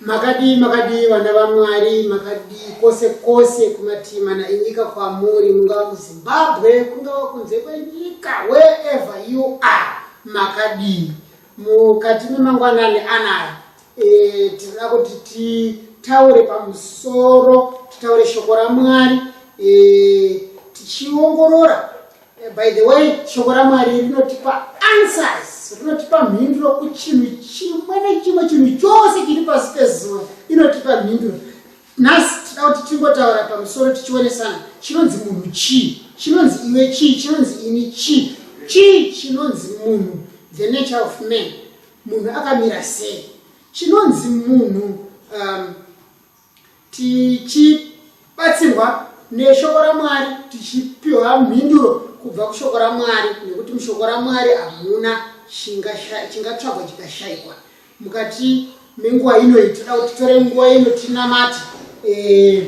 Makadii makadii vana vaMwari makadii kose kose kumatii mana enyika kwamuri mungava kuZimbabwe kungava kunze kwenyika wherever you are makadii mukati memangwanani anaya e, tinoda kuti titaure pamusoro titaure shoko raMwari e, tichiongorora Eh, by the way shoko ramwari rinotipa answers rinotipa mhinduro kuchinhu chimwe nechimwe chinhu chose chiri pasi pezuva inotipa mhinduro nhasi tida kuti tingotaura pamusoro tichionesana chinonzi munhu chii chinonzi iwe chii chinonzi ini chii chii chinonzi munhu the nature of man munhu akamira sei chinonzi munhu um, tichibatsirwa neshoko ramwari tichipiwa mhinduro kubva kushoko ramwari nekuti mushoko ramwari hamuna chingatsvagwa chikashaikwa mukati menguva ino iyi tinoda kuti titore nguva ino tinamate eh,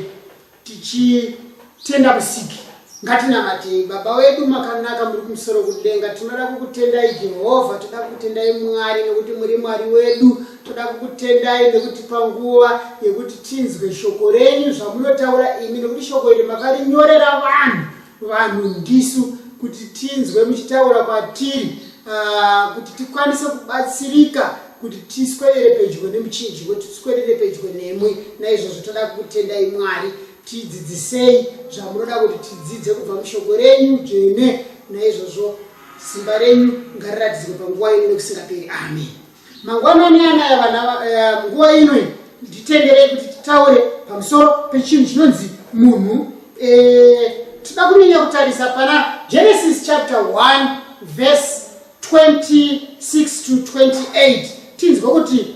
tichi Tenda musiki ngatinamatei baba wedu makanaka muri kumusoro kudenga tinoda kukutendai jehovha toda kukutendai mwari nekuti muri mwari wedu toda kukutendai nekutipa nguva yekuti tinzwe shoko renyu zvamunotaura imi nekuti shoko iri makarinyorera vanhu vanhu ndisu kuti tinzwe muchitaura kwatiri ah, kuti tikwanise kubatsirika kuti tiswerere pedyo nemuchinji kuti tiswerere pedyo nemwi naizvozvo toda kukutendai mwari Tidzidzisei zvamunoda kuti tidzidze kubva mushoko renyu dzvene, naizvozvo simba renyu ngariratidzwe panguva ino nekusingaperi. Ameni. Mangwanani anaya vana, eh, nguva ino iyi nditenderei kuti titaure pamusoro pechinhu chinonzi munhu. Eh, tida kunyanya kutarisa pana Genesis chapter 1 verse 26 to 28 tinzwe kuti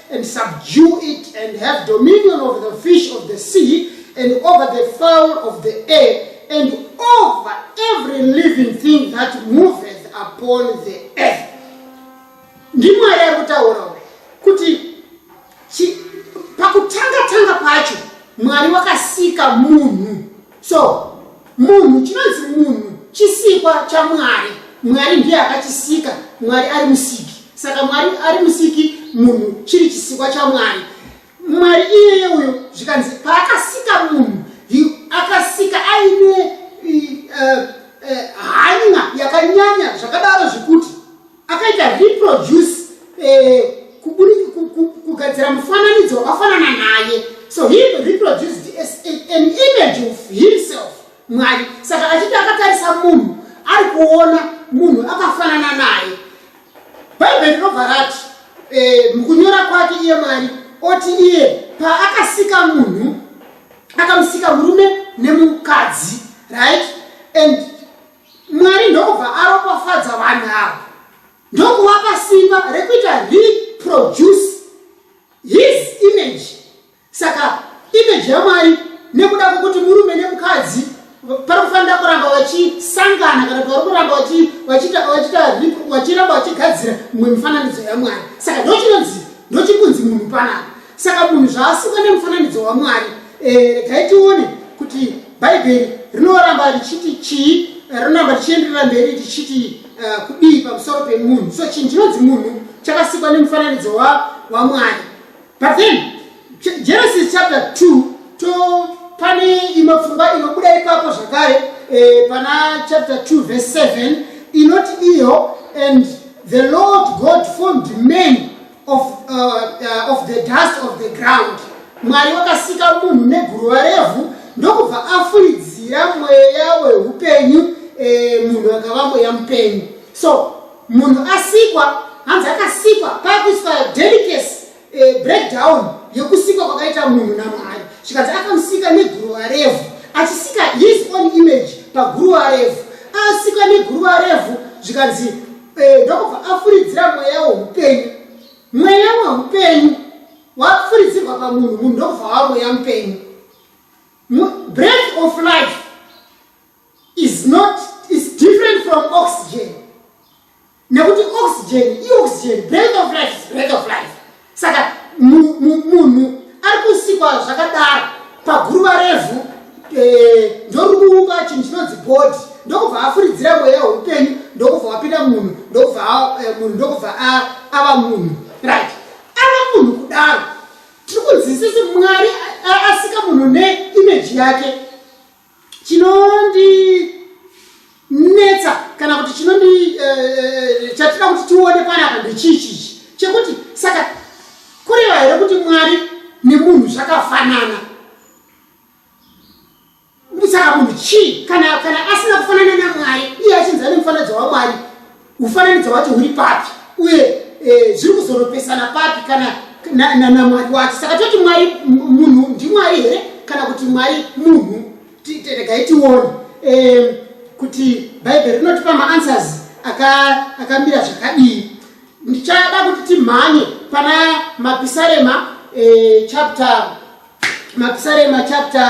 and subdue it, and have dominion over the fish of the sea, and over the fowl of the air, and over every living thing that moveth upon the earth. Ndimwari ari kutaura kuti pakutanga tanga pacho Mwari wakasika munhu so munhu chinonzi munhu chisikwa chamwari mwari ndiye akachisika mwari ari musiki saka mwari ari musiki munhu chiri chisikwa chamwari mwari iyeye uyo zvikanzi paakasika munhu akasika aine eh, eh, hanya yakanyanya zvakadaro zvekuti akaita reproduce eh, kugadzira mufananidzo wakafanana naye so he reproduced an image of himself mwari saka achiti akatarisa munhu ari kuona munhu akafanana naye bhaibheri rinobva rati eh, mukunyora kwake iye mwari oti iye paakasika munhu akamusika murume nemukadzi right and Mwari ndokubva aropafadza vanhu ava ndokuvapa simba rekuita reproduce his image. Saka image yaMwari nekuda kwekuti murume nemukadzi pari kufanira kuramba vachisangana kana kuti vari kuramba vachiramba vachigadzira mumwe mifananidzo yamwari saka ndochinonzi ndochikunzi munhu panapa saka munhu zvaasikwa nemufananidzo wamwari Eh, regai tione kuti bhaibheri rinoramba richiti chii eh, rinoramba richienderera mberi richiti eh, kudii pamusoro pemunhu so chinhu chinonzi munhu chakasikwa nemufananidzo wamwari but then genesis chapter 2 to pane imwe pfungwa inobuda ipapo zvakare eh, pana chapter 2 verse 7 inoti iyo and the lord god formed man of, uh, uh, of the dust of the ground mwari wakasika munhu neguruva revhu ndokubva afuridzira mweya weupenyu e, munhu akava mweya mupenyu so munhu asikwa hanzi akasikwa pakuiswa delicase e, eh, breakdown yekusikwa kwakaita munhu namwari zvikanzi akamusika neguruva revhu achisika his own image paguruva revhu asikwa neguruva revhu zvikanzi Eh, ndokubva afuridzira mweya woupenyu mweya weupenyu wafuridzirwa pamunhu munhu ndokubva wa mweya mupenyu breath of life is not is different from oxygen nekuti oxygen ioxygen breath of life is breath of life saka munhu ari kusikwa zvakadaro paguruva revhu eh, ndorikuuka chinhu chinonzi body ndokubva afuridzira mweya weupenyu ndokubva wapinda munhu ndokubva eh, munhu ndokubva ava munhu right ava munhu kudaro tiri kunzwisisi mwari asika munhu neimeji yake chinondinetsa kana kuti chinondi eh, eh, chatida kuti tione panapa ndechii chichi chekuti saka kureva here kuti mwari nemunhu zvakafanana saka munhu chii kana asina kufanana namwari iye achinzi ane mufananidzo wamwari Ufananidzo wacho huri papi uye eh, zviri kuzoropesana papi kana namwari wacho? Saka toti mwari munhu ndimwari here kana kuti mwari munhu? Regai tione eh, kuti bhaibheri rinotipa maanswers akamira zvakadii. Ndichada kuti timhanye pana mapisarema eh, chapter mapisarema chapter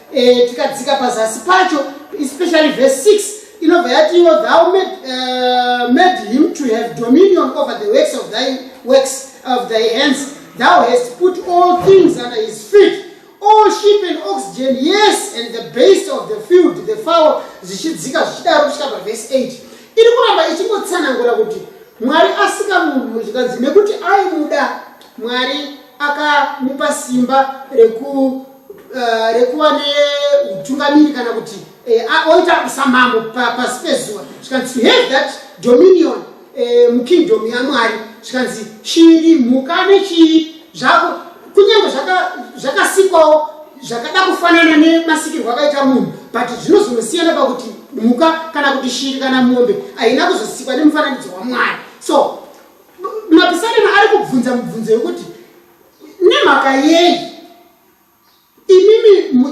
e, tikadzika pazasi pacho especially verse 6 inobva yatiwo thou made, uh, made him to have dominion over the works of thy works of thy hands thou hast put all things under his feet all sheep and oxygen yes and the base of the field the fowl zvichidzika zvichidaro kusvika pavhesi 8 iri kuramba ichingotsanangura kuti mwari asika munhu zvikanzi nekuti aimuda mwari akamupa simba reku uh, rekuva neutungamiri kana kuti uh, oita kusamambo pasi pa pezuva zvikanzi to have that dominion uh, mukingdom yamwari zvikanzi chiri mhuka nechii zvako kunyange zvakasikwawo zvaka zvakada kufanana nemasikirwo akaita munhu but zvinozongosiyana pakuti mhuka kana kuti shiri kana mombe haina kuzosikwa nemufananidzo wamwari so mapisarema ari kubvunza mubvunzo yekuti nemhaka yei imimi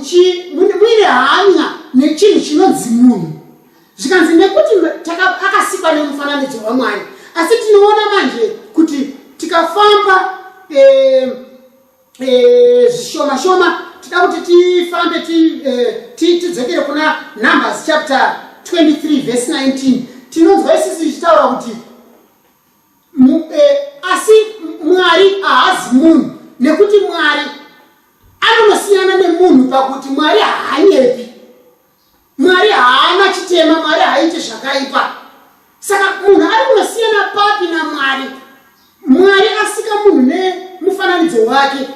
muine hanya nechinhu chinonzi munhu zvikanzi nekuti akasikwa nemufananidzo wamwari asi tinoona manje kuti tikafamba eh, eh, zvishoma shoma tida kuti tifambe eh, tidzokere kuna numbers chapter 23 vhesi 19 tinonzwa isisi ichitaura kuti Eh, asi mwari haazi munhu nekuti mwari anonosiyana nemunhu pakuti mwari haanyepi mwari haana chitema mwari haaite zvakaipa saka munhu ari kunosiyana papi namwari mwari asika munhu nemufananidzo wake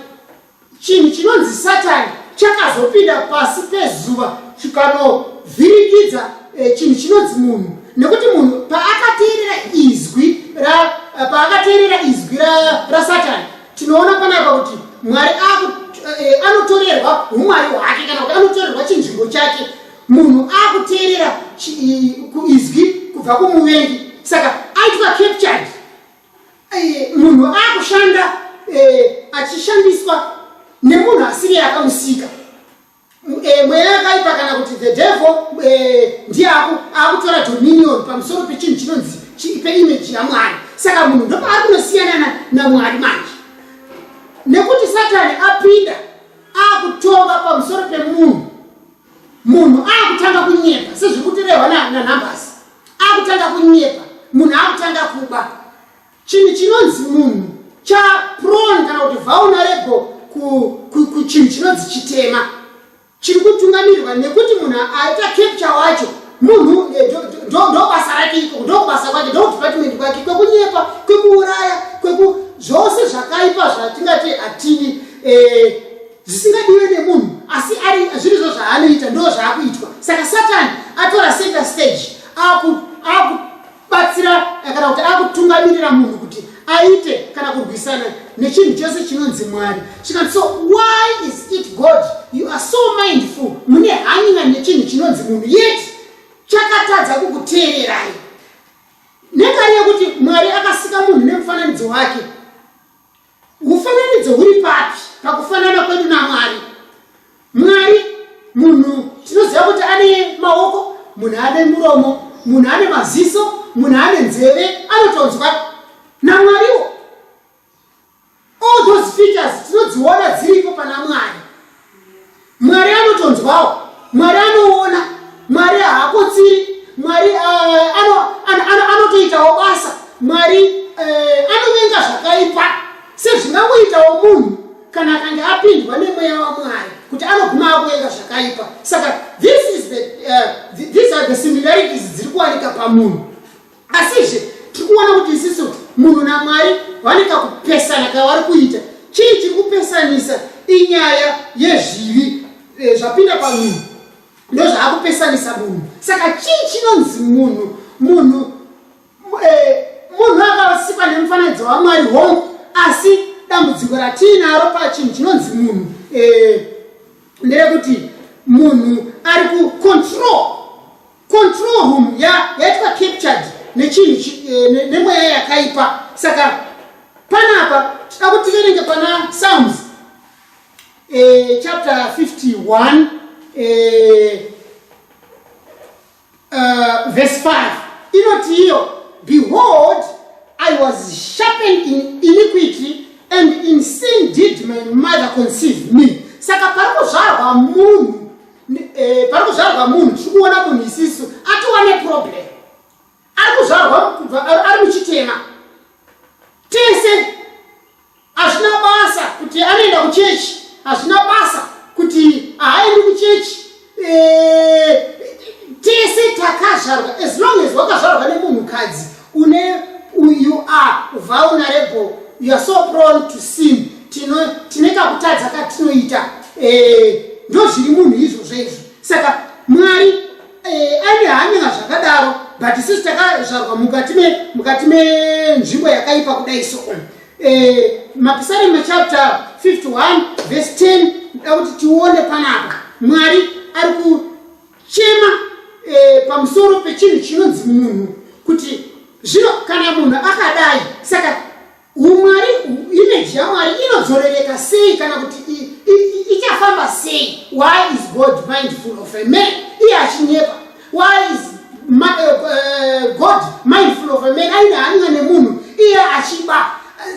Chinhu chinonzi Satani chakazopinda pasi pezuva chikanovhiringidza eh, chinhu chinonzi munhu nekuti munhu paakateerera izwi eh, paakateerera izwi rasatani tinoona panapa kuti mwari eh, anotorerwa umwari hwake kana kuti anotorerwa chinzvimbo chake munhu akuteerera izwi kubva kumuvengi saka aitwa captured Eh, munhu akushanda eh, achishandiswa nemunhu asiri akamusika eh, mweya yakaipa kana kuti the devil ndiye akutora dominion pamusoro pechinhu chinonzi peimeji yamwari saka munhu ndopaari kunosiyana namwari manje nekuti satani apinda akutonga pamusoro pemunhu munhu akutanga kunyepa sezviri kutirehwa nanhambasi akutanga kunyepa munhu akutanga kuba chinhu chinonzi munhu chapron kana kuti vulnerable kuchinhu chinonzi chitema chiri kutungamirirwa nekuti munhu aita capture wacho munhu eh, ndobasa rake iko ndobasa kwake ndodepartment kwake kwekunyepa kwekuuraya kweku zvose zvakaipa zvatingati hatidi eh, zvisingadiwe nemunhu asi ari zvirizvo zvaanoita ndo zvaakuitwa saka satani atora center stage akubatsira eh, kana kuti akutungamirira munhu kuti aite kana kurwisana nechinhu chose chinonzi mwari zvikanzi so why is it god you are so mindful mune hanyina nechinhu chinonzi munhu yet chakatadza kukuteererai nekari yekuti mwari akasika munhu nemufananidzo wake Mufananidzo uri papi pakufanana kwedu naMwari? Mwari munhu tinoziva kuti ane maoko, munhu ane muromo, munhu ane maziso, munhu ane nzeve, anotonzwa naMwariwo. All those features tinodziona dziripo pana Mwari. Mwari anotonzwawo, Mwari anoona, Mwari haakotsiri, Mwari eh, anotoitawo basa, Mwari eh, anovenga zvakaipa sezvingangoitawo munhu kana akange apindwa nemweya waMwari kuti anoguma akuvenga zvakaipa. Saka this is the, uh, these are the similarities dziri kuwanika pamunhu. Asizve tiri kuona kuti isisu munhu naMwari vane kakupesana kavari kuita. Chii chiri kupesanisa? Inyaya yezvivi eh, zvapinda pamunhu ndozvaakupesanisa munhu. Saka chii chinonzi munhu? Munhu eh, munhu akasikwa nemufananidzo waMwari hongu, asi dambudziko ratiinaro pachinhu chinonzi munhu eh, ndere kuti munhu ari kucontrol Control room ya yaitwa captured nechinhu eh, nemweya yakaipa saka panapa tida kuti tiverenge pana Psalms eh, chapter 51 eh, uh, verse 5 inoti iyo behold I was sharpened in iniquity and in sin did my mother conceive me saka parikuzvarwa munhu Eh, pari kuzvarwa munhu tiri kuona munhu isisu atiwa neproblem ari kuzvarwa kubva ari muchitema tese hazvina basa kuti anoenda kuchechi hazvina basa kuti haaendi kuchechi eh, tese takazvarwa as long as wakazvarwa nemunhukadzi une you are vulnerable you are so prone to sin tino tine kakutadza katinoita eh, ndo zviri munhu izvozvo izvo saka mwari eh, aine hanyanga zvakadaro but sisi takazvarwa mukati me mukati menzvimbo yakaipa kudai so eh, mapisarema chapter 51 verse 10 da kuti tione panapa mwari ari ku Chema e, pamusoro pechinhu chinonzi munhu kuti zvino kana munhu akadai saka umwari imeji yamwari inodzorereka sei kana kuti ichafamba sei why is god mindful of a man iye achinyepa why is ma, uh, god mindful of a man aine hanya nemunhu iye achiba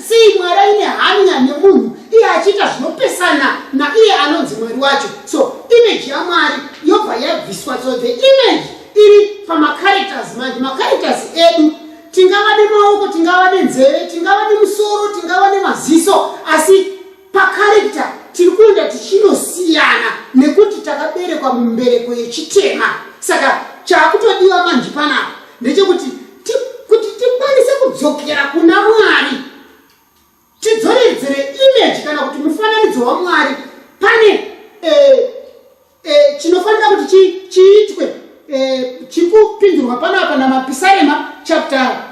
Sei Mwari aine hanya nemunhu iye achiita zvinopesana naiye anonzi Mwari wacho? So image yaMwari yobva yabviswa. So the image iri pamacharacters manje. Macharacters edu tingava nemaoko, tingava nenzeve, tingava nemusoro, tingava nemaziso asi Pacharector tiri kuenda tichinosiana nekuti takaberekwa mumbereko yechitema saka chaakutodiwa manji panapa ndechekuti kuti tikwanise kudzokera kuna mwari tidzoredzere image kana kuti mufananidzo wamwari pane eh, e, chinofanira kuti chi, chiitwe e, chikupindurwa panapa namapisarema chapter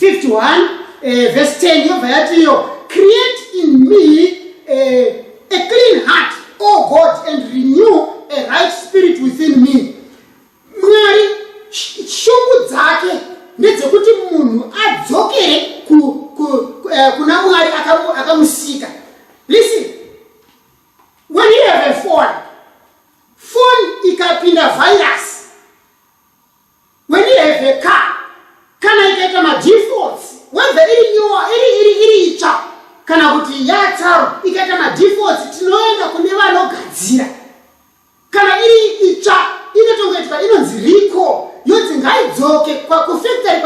51 e, verse 10 yobva yati iyo create in me e, a clean heart o god and renew a right spirit within me mwari shungu dzake ndedzekuti munhu adzokere ku, ku, ku, eh, kuna mwari akamusika listen When you have a phone, phone ikapinda virus. When you have a car, kana ikaita madefaults, whether iri nyuwa, iri iri iri itsva kana kuti yatsaro ikaita madefaults, tinoenda kune vanogadzira. Kana iri itsva inotongoitwa inonzi recall yonzi ngaidzoke kufactory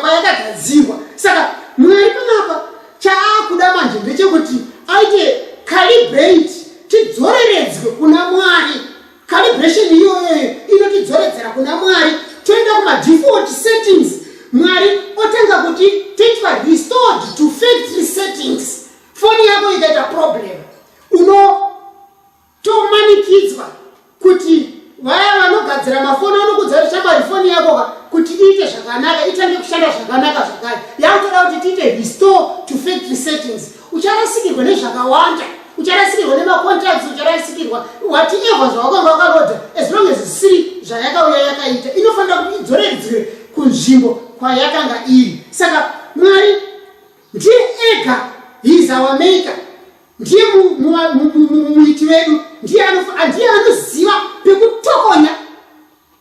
kwayakagadzirwa. Saka Mwari panapa chaakuda manje ndechekuti aite calibrate tidzoreredzwe kuna Mwari. Calibration iyoyoyo inotidzoredzera kuna Mwari toenda kumadefault settings Mwari otanga kuti toitwa restored to factory settings. Foni yako ikaita problem uno Tomanikidzwa kuti vaya vanogadzira mafoni vanokudza kuti shamwari foni yako ka kuti iite zvakanaka itange kushanda zvakanaka zvakare yakutoda kuti tiite restore to factory settings ucharasikirwa nezvakawanda ucharasikirwa nemacontracts ucharasikirwa whatever zvawakanga wakarodha as long as zvisiri zvayakauya yakaita inofanira kuti idzoreredzwe kunzvimbo kwayakanga iri saka mwari ndiye ega he is our maker ndiye muiti wedu ndiye anoziva pekutokonya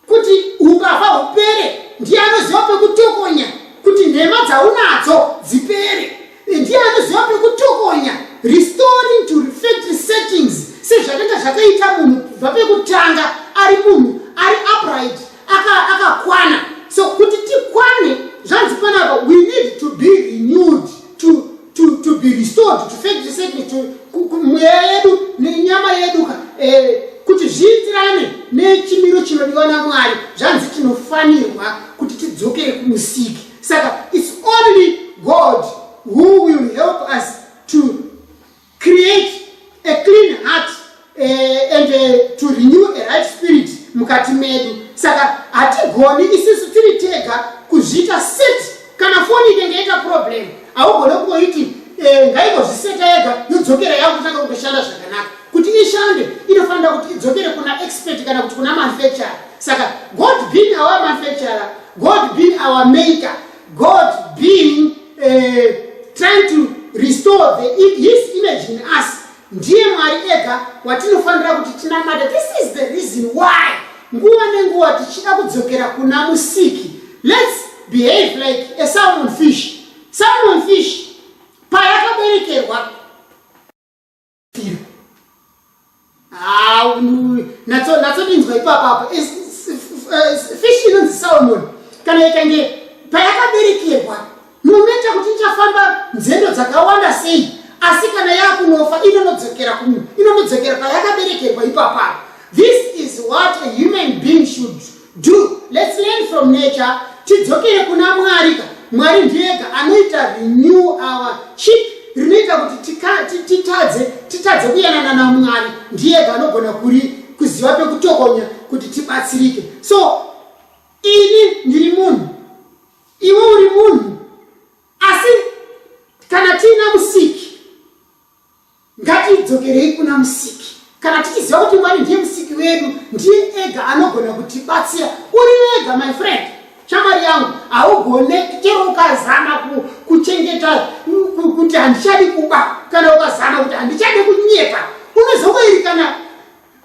kuti ukava hupere ndiye anoziva pekutokonya kuti nhema dzaunadzo dzipere ndiye anoziva pekutokonya restoring to refactory settings sezvakanga zvakaita munhu kubva pekutanga ari munhu ari upright akakwana aka so kuti tikwane zvanzi panapa we need to be renewed to to to be restored to fed resettle to mweya yedu nenyama yedu ka eh, kuti zviitirane nechimiro chinodiwa namwari zvanzi tinofanirwa kuti tidzokere kumusiki saka its only god who will help us to create a clean heart uh, and uh, to renew a right spirit mukati medu saka hatigoni isisu tiri tega kuzviita set kana foni inenge yaita problem haugone kungoiti uh, eh, ngaingozviseta yega yodzokera yakutanga kutoshanda zvakanaka kuti ishande inofanira kuti idzokere kuna expert kana kuti kuna manufacturer saka god being our manufacturer god being our maker God being uh, trying to restore the, his image in us ndiye mwari ega watinofanira kuti tinamata this is the reason why nguva nenguva tichida kudzokera kuna musiki lets behave like a salmon fish salmon fish payakaberekerwa natsodinzwa ipapapo fish inonzi salmon kana ikange payakaberekerwa munoita kuti ichafamba nzendo dzakawanda sei asi kana yakunofa inonodzokera kumu inonodzokera payakaberekerwa ipapapo this is what a human being should Do, let's learn from nature tidzokere kuna mwari ka mwari ndiyega anoita renew our chip rinoita kuti titadze titadze kuyanana namwari ndiyega anogona kuri kuziva pekutokonya kuti tibatsirike so ini ndiri munhu iwe uri munhu asi kana tiina musiki Ngatidzokerei kuna Musiki. Kana tichiziva kuti Mwari ndiye Musiki wedu, ndiye ega anogona kutibatsira. Uri wega, my friend. Shamwari yangu, haugone chero ukazama kuchengeta kuti handichadi kuba, kana ukazama kuti handichadi kunyepa, unozongoiri kana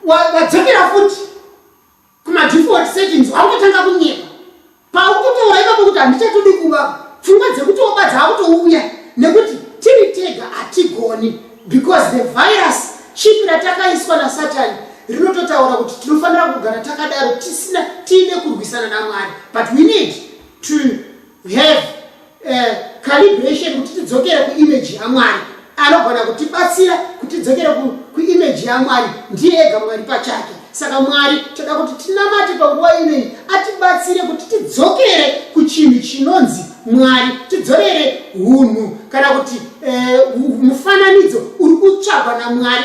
wadzokera futi. Kuma default settings wautotanga kunyepa. Paukutoora ipapo kuti handichatodi kuba. Pfungwa dzekuti wobadza akutouya nekuti tiri tega hatigoni because the virus chipi ratakaiswa nasatani rinototaura kuti tinofanira kugara takadaro tisina tiine kurwisana namwari but we need to have uh, calibration kuti tidzokere kuimage yamwari anogona kutibatsira kuti tidzokere kuimage yamwari ndiye ega mwari pachake saka mwari toda kuti tinamate panguva inei atibatsire kuti tidzokere kuchinhu chinonzi mwari tidzorere unhu kana kuti eh, mufananidzo uri kutsvagwa namwari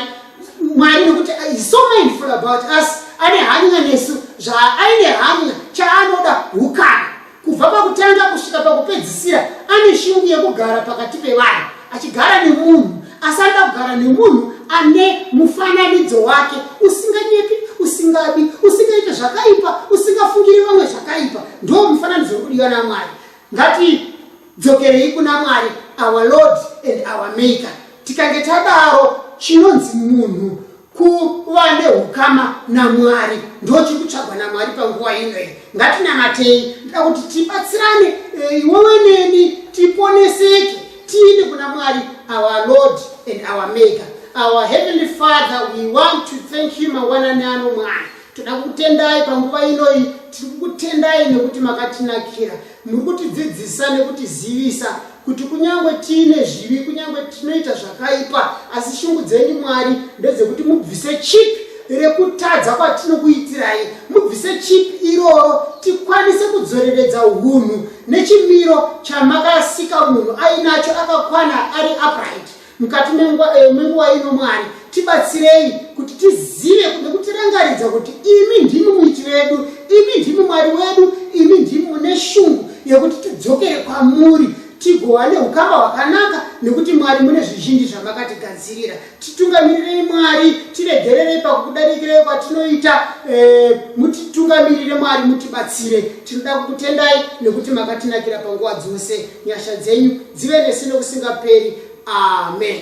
mwari nekuti uh, is so mindful about us ane hanya nesu zvaaine hanya chaanoda ukana Kubva pakutanga kusvika pakupedzisira, ane shungu yekugara pakati pevanhu, achigara nemunhu, asi anoda kugara nemunhu ane mufananidzo wake, usinganyepi, usingabi, usingaite zvakaipa, usingafungiri vamwe zvakaipa. Ndoo mufananidzo uri kudiwa naMwari. Ngati Dzokerei kuna Mwari, our Lord and our Maker. Tikange tadaro, chinonzi munhu kuva neukama naMwari ndochiri kutsvagwa naMwari panguva ino iyi. Ngatinamatei, ndoda kuti tibatsirane, eh, iwewe neni, tiponeseke tiende kuna Mwari, our Lord and our Maker. Our Heavenly Father, we want to thank you mangwanani ano Mwari. toda kukutendai panguva inoyi tiri kukutendai nekuti makatinakira muri kutidzidzisa nekutizivisa kuti kunyange tiine zvivi kunyange tinoita zvakaipa asi shungu dzenyu mwari ndedzekuti mubvise chipi rekutadza kwatinokuitirai mubvise chipi iroro tikwanise kudzoreredza unhu nechimiro chamakasika munhu ainacho akakwana ari upright mukati eh, menguva ino mwari tibatsirei kuti tizive nekutirangaridza kuti imi ndimi muiti vedu imi ndimi mwari wedu imi ndimi mune shungu yekuti tidzokere kwamuri tigova neukama hwakanaka nekuti mwari mune zvizhinji zvamakatigadzirira titungamirirei mwari tiregererei pakukudarikirei kwatinoita eh, mutitungamirire mwari mutibatsire tinoda kukutendai nekuti makatinakira panguva dzose Nyasha dzenyu dzive nesu nokusingaperi. Amen.